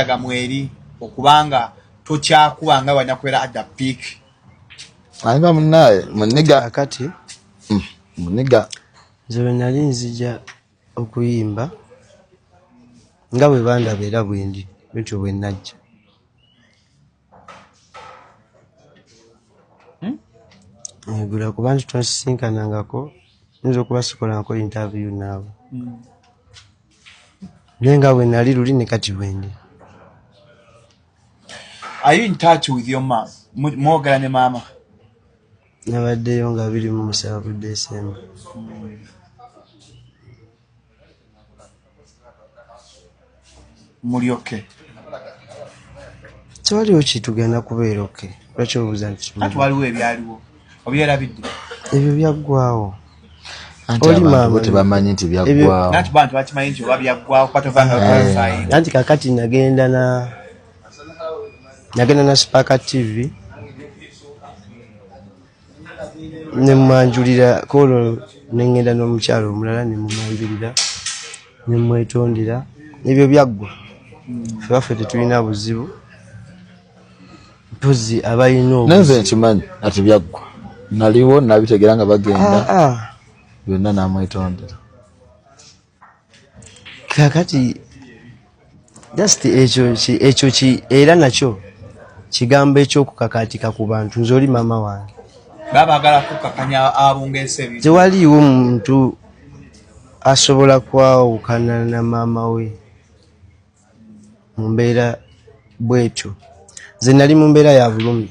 kyaga mweri okubanga tokyakuba nga wanya kubera at the peak anga munaye muniga akati mm, muniga nze bwe nali nzija okuyimba nga bwe bandaba era bwendi bityo bwe najja negula hmm? kuba nti twasisinkanangako nyinza okuba sikolanko interview naawe hmm. naye nga wenali luli ne kati wendi are you in touch with your mom mwogera ne maama nabaddeyo nga biri mu musanvu desemba mulyoke tewaliwo kitugenda kubeera oke lwaki obuuza nti waliwo ebyaliwo obyerabidde ebyo byaggwawo tebamanyi nti byaggwawoanti eh. kakati nagenda na nagenda na spaka tv ne mmanjulira koolo ne ŋŋenda n'omukyalo omulala ne mumwanjulira ne mmwetondera ebyo byaggwa fe baffe tetulina buzibu mpozi abalina obnze nkimanyi ati byaggwa naliwo nabitegeera nga bagenda ah, ah. byonna namwetondera kakati just ekyo ki ekyo ki era nakyo kigambo ekyokukakaatika ku bantu nze oli maama wange babagala kukakanya abungeese tewaliiwo muntu asobola kwawukana na maama we mu mbeera bwetyo nze nali mu mbeera ya bulumi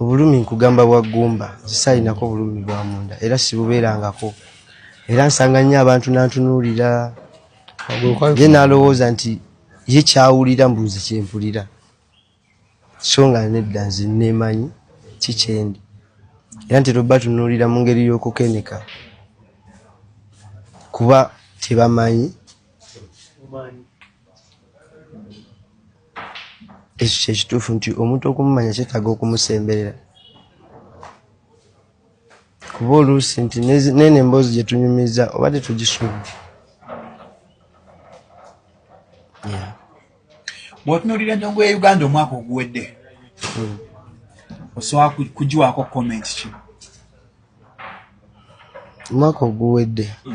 Obulumi nkugamba bwa ggumba zisaalinako bulumi bwa munda era sibubeerangako era nsanga nnyo abantu nantunuulira ye nalowooza nti ye kyawulira mbuuzi kyempulira so nga nedda nze neemanyi kikyendi era ntera obatunuulira mu ngeri y'okukeneka kuba tebamanyi ekyo kyekituufu nti omuntu okumumanya kyetaaga okumusemberera kuba oluusi nti nene emboozi gye tunyumiza oba tetugisuubira bwotunulira endongo ya uganda omwaka oguwedde hmm. osobola kugiwaako komenti ki omwaka oguwedde